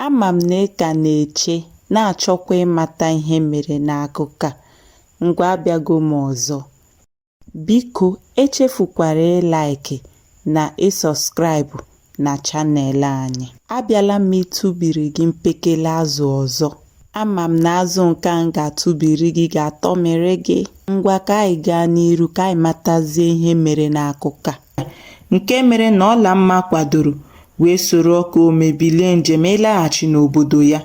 Ama m na ị ka na-eche, na-achọkwa ịmata ihe mere n'akụkọ a. Ngwa abịago m ọzọ. Biko echefukwara ịlaịkị na ịsọskraịbụ na chanel anyị. Abịala m ịtụbiri gị mpekele azụ ọzọ. Ama m na azụ nke m ga-atụbiri gị ga-atọmịrị gị. Ngwa ka anyị gaa n'iru ka anyị matazie ihe mere n'akụkọ a. nke mere na Ọlamma kwadoro wee soro Ọkaome bilie njem ịlaghachi n'obodo ya.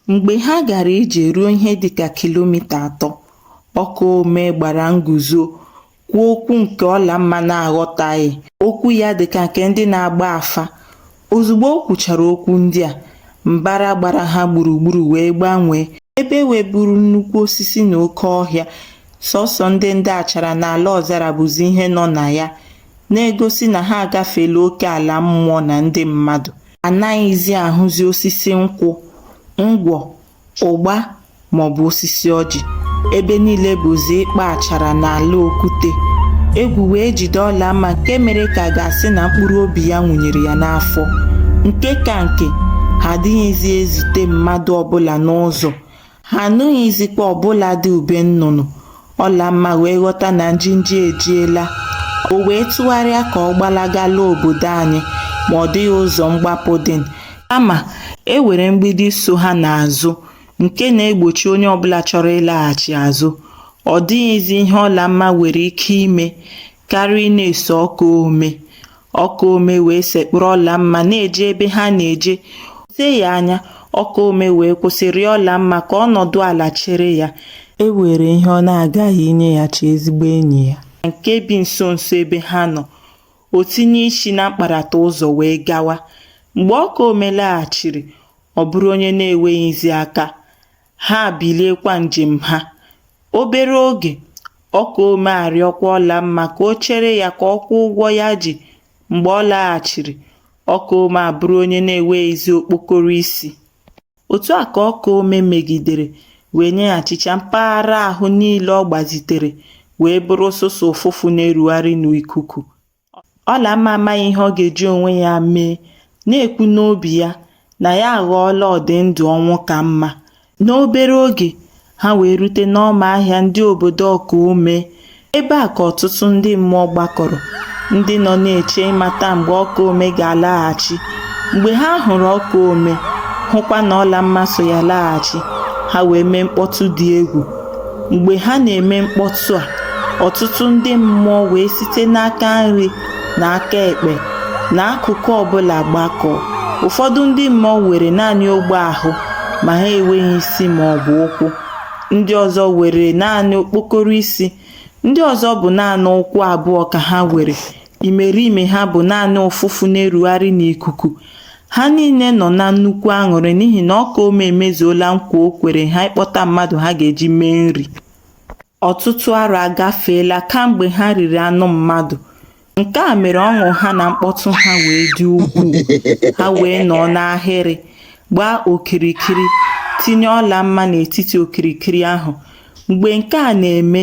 Mgbe ha gara ije ruo ihe dịka kilomita atọ, Ọkaome gbara nguzo kwuo okwu nke Ọlamma na-aghọtaghị. Okwu ya dịka nke ndị na-agba afa. Ozugbo o kwuchara okwu ndị a, mbara gbara ha gburugburu wee gbanwee, ebe e weburu nnukwu osisi na oke ọhịa. Sọsọ ndị ndị achara na ala ọzara bụzi ihe nọ na ya, na-egosi na ha agafeela oke ala mmụọ na ndị mmadụ. Anaghịzi ahụzi osisi nkwụ, ngwọ, ụgba maọbụ osisi ọjị ebe niile bụzi ịkpa achara na ala okwute egwu wee jide Ọlamma nke mere ka a ga-asị na mkpụrụ obi ya wụnyere ya n'afọ nke ka nke ha adịghịzi ezute mmadụ ọbụla n'ụzọ ha anụghịzikwa ọbụladị ube nnụnụ Ọlamma wee ghọta na njinji ejiela. O wee tụgharịa ka ọ gbalaga laa obodo anyị ma ọ dịghị ụzọ mgbapụ dị. Kama, e were mgbidi so ha n'azụ nke na-egbochi onye ọbụla chọrọ ịlaghachi azụ. Ọ dịghịzi ihe Ọlamma nwere ike ime karịa ịna-eso Ọkaome. Ọkaome wee sekpụrụ Ọlamma na-eje ebe ha na-eje te ya anya Ọkaome wee kwụsị rịọ Ọlamma ka ọ nọdụ ala chere ya e were ihe ọ na-aga inyeghachi ezigbo enyi ya nke bi nso nso ebe ha nọ o tinye isi na mkparata ụzọ wee gawa mgbe Ọkaome laghachiri ọ bụrụ onye na-enweghịzi aka ha biliekwa njem ha. Obere oge, Ọkaome arịọkwa Ọlamma ka o chere ya ka ọ kwụọ ụgwọ ya ji. Mgbe ọ laghachiri, Ọkaome abụrụ onye na-enweghịzi okpokoro isi. Otu a ka Ọkaome megidere wee nyeghachicha mpaghara ahụ niile ọ gbazitere wee bụrụ sọsọ ụfụfụ na-erugharị n'ikuku. Ọlamma amaghị ihe ọ ga-eji onwe ya mee, na-ekwu n'obi ya na ya aghọọla ọdị ndụ ọnwụ ka mma. N'obere oge, ha wee rute n'ọma ahịa ndị obodo Ọkaome. Ebe a ka ọtụtụ ndị mmụọ gbakọrọ, ndị nọ na-eche ịmata mgbe Ọkaome ga-alaghachi. Mgbe ha hụrụ Ọkaome, hụkwa na Ọlamma so ya laghachi, ha wee mee mkpọtụ dị egwu. Mgbe ha na-eme mkpọtụ a, ọtụtụ ndị mmụọ wee site n'aka nri na aka ekpe na akụkụ ọbụla gbakọọ. Ụfọdụ ndị mmụọ nwere naanị ogbe ahụ ma ha enweghị isi ma ọ bụ ụkwụ. Ndị ọzọ nwere naanị okpokoro isi. Ndị ọzọ bụ naanị ụkwụ abụọ ka ha nwere. Imerime ha bụ naanị ụfụfụ na-erugharị n'ikuku. Ha niile nọ na nnukwu aṅụrị n'ihi na Ọkaome emezuola nkwa o kwere ha ịkpọta mmadụ ha ga-eji mee nri. Ọtụtụ arọ agafeela kamgbe ha riri anụ mmadụ. Nke a mere ọṅụ ha na mkpọtụ ha wee dị ukwuu. Ha wee nọọ n'ahịrị, gbaa okirikiri, tinye Ọlamma n'etiti okirikiri ahụ. Mgbe nke a na-eme,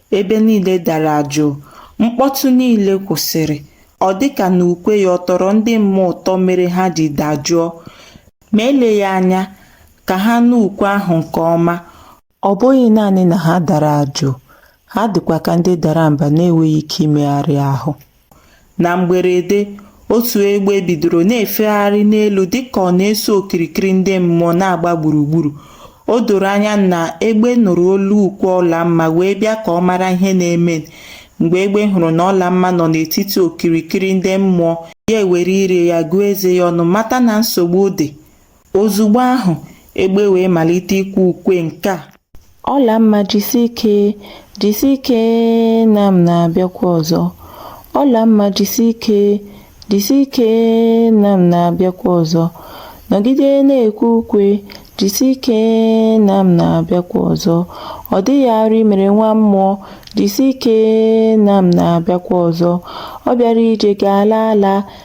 Ebe niile dara jụụ, mkpọtụ niile kwụsịrị. Ọ dị ka na ukwe ya ọ tọrọ ndị mmụọ ụtọ mere ha ji dajụọ. Ma eleghị anya ka ha nụ ukwe ahụ nke ọma. Ọ bụghị naanị na ha dara jụụ, ha dịkwa ka ndị dara mba na-enweghị ike imegharị ahụ. Na mgberede, otu egbe bidoro na-efegharị n'elu dịka ọ na-eso okirikiri ndị mmụọ na-agba gburugburu. O doro anya na egbe nụrụ olu ukwe Ọlamma wee bịa ka ọ mara ihe na-eme. Mgbe egbe hụrụ na Ọlamma nọ n'etiti okirikiri ndị mmụọ, ya ewere ire ya gụọ eze ya ọnụ mata na nsogbu dị. Ozugbo ahụ, egbe wee malite ikwe ukwe nke a. Ọlamma jisi ike, jisi ike na m na-abịakwa ọzọ. Ọlamma jisi ike, jisi ike na m na-abịakwa ọzọ. Nọgide na-ekwe ukwe, jisi ike na m na-abịakwa ọzọ. Ọ dịghị arụ i mere nwa mmụọ, jisi ike na m na-abịakwa ọzọ. Ọ bịara ije ga-ala ala,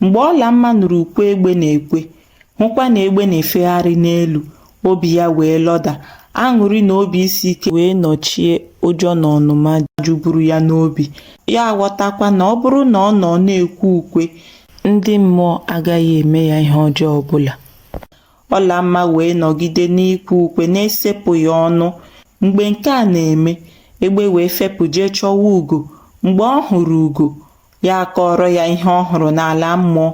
mgbe ọlamma nụrụ ukwe egbe na-ekwe hụkwa na egbe na-efegharị n'elu obi ya wee lọda aṅụrị na obi isi ike wee nọchie ụjọ na ọnụma juburu ya n'obi ya aghọtakwa na ọ bụrụ na ọ nọ na-ekwe ukwe ndị mmụọ agaghị eme ya ihe ọjọọ ọbụla ọlamma wee nọgide n'ikwe ukwe na-esepụghị ọnụ mgbe nke a na-eme egbe wee fepụ jee chọwa ugo mgbe ọ hụrụ ugo ya akọọrọ ya ihe ọ hụrụ n'ala mmụọ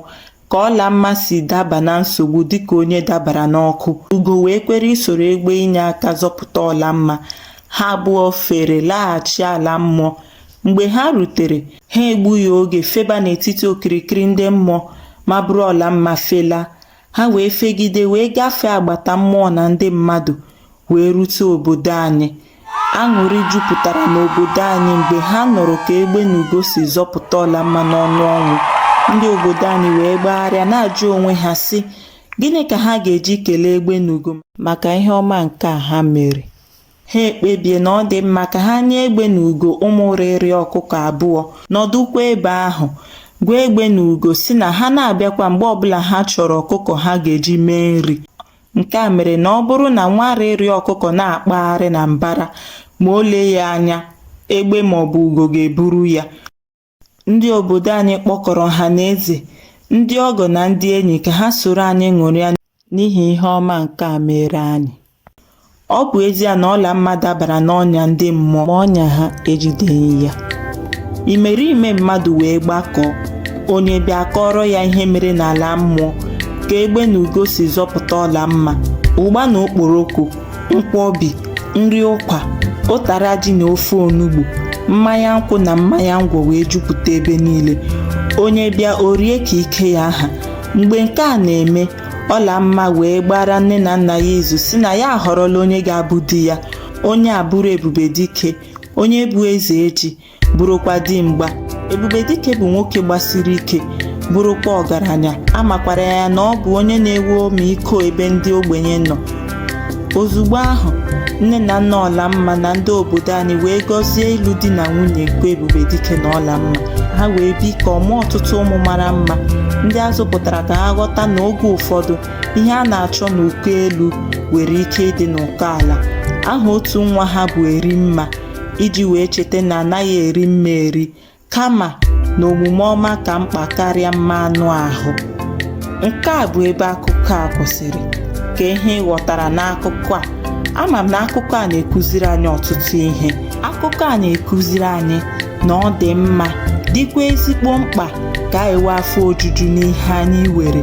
ka ọlamma si daba na nsogbu dịka onye dabara n'ọkụ ugo wee kwere isoro egbe inye aka zọpụta ọlamma ha abụọ fere laghachi ala mmụọ mgbe ha rutere ha egbughị oge feba n'etiti okirikiri ndị mmụọ ma buru ọlamma fela Ha wee fegide wee gafee agbata mmụọ na ndị mmadụ wee rute obodo anyị. Aṅụrị jupụtara n'obodo anyị mgbe ha nụrụ ka egbe na ugo si zọpụta Ọlamma n'ọnụ ọnwụ. Ndị obodo anyị wee gbagharịa na-ajụ onwe ha sị, Gịnị ka ha ga-eji kelee egbe na ugo maka ihe ọma nke a ha mere? ha ekpebie na ọ dị mma ka ha nye egbe na ugo ụmụ rịrị ọkụkọ abụọ nọdụkwa ebe ahụ gwa egbe na ugo sị na ha na-abịakwa mgbe ọbụla ha chọrọ ọkụkọ ha ga-eji mee nri nke a mere na ọ bụrụ na nwa rịrị ọkụkọ na-akpagharị na mbara ma o lee ya anya egbe maọbụ ugo ga-eburu ya Ndị obodo anyị kpọkọrọ ọha na eze, ndị ọgọ na ndị enyi ka ha soro anyị ṅụrịa n'ihi ihe ọma nke a meere anyị. Ọ bụ ezie na Ọlamma dabara n'ọnya ndị mmụọ ma ọnya ha ejideghị ya. Imerime mmadụ wee gbakọọ, onye bịa a kọọrọ ya ihe mere n'ala mmụọ, ka egbe na ugo si zọpụta Ọlamma, ụgba na okporoko nkwọbi nri ụkwa ụtara ji na ofe onugbu mmanya nkwụ na mmanya ngwọ wee jupụta ebe niile onye bịa o rie ka ike ya ha mgbe nke a na-eme ọlamma wee gbaara nne na nna ya izu sị na ya ahọrọla onye ga-abụ di ya onye a bụrụ ebube dike onye bụ eze ji bụrụkwa dimgba ebube dike bụ nwoke gbasiri ike bụrụkwa ọgaranya a makwara ya na ọ bụ onye na-enwe ọmịiko ebe ndị ogbenye nọ ozugbo ahụ nne na nna ọlamma na ndị obodo anyị wee gọzie ịlụ di na nwunye nke ebube dike na ọlamma ha wee bikọọ mụọ ọtụtụ ụmụ mara mma ndị a zụpụtara ka ha ghọta na oge ụfọdụ ihe a na-achọ n'ụkọ elu nwere ike ịdị n'ụkọ ala aha otu nwa ha bụ erimma iji wee cheta na a naghị eri mma eri kama na omume ọma ka mkpa karịa mma anụ ahụ nke a bụ ebe akụkọ a kwụsịrị kee ihe ị ghọtara n'akụkọ a ama m na akụkọ a na-ekụziri anyị ọtụtụ ihe akụkọ a na-ekụziri anyị na ọ dị mma dịkwa ezigbo mkpa ka anyị nwee afọ ojuju n'ihe anyị nwere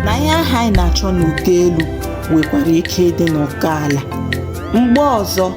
na ihe ahụ anyị na-achọ n'ụkọ elu nwekwara ike ịdị n'ụkọ ala mgbe ọzọ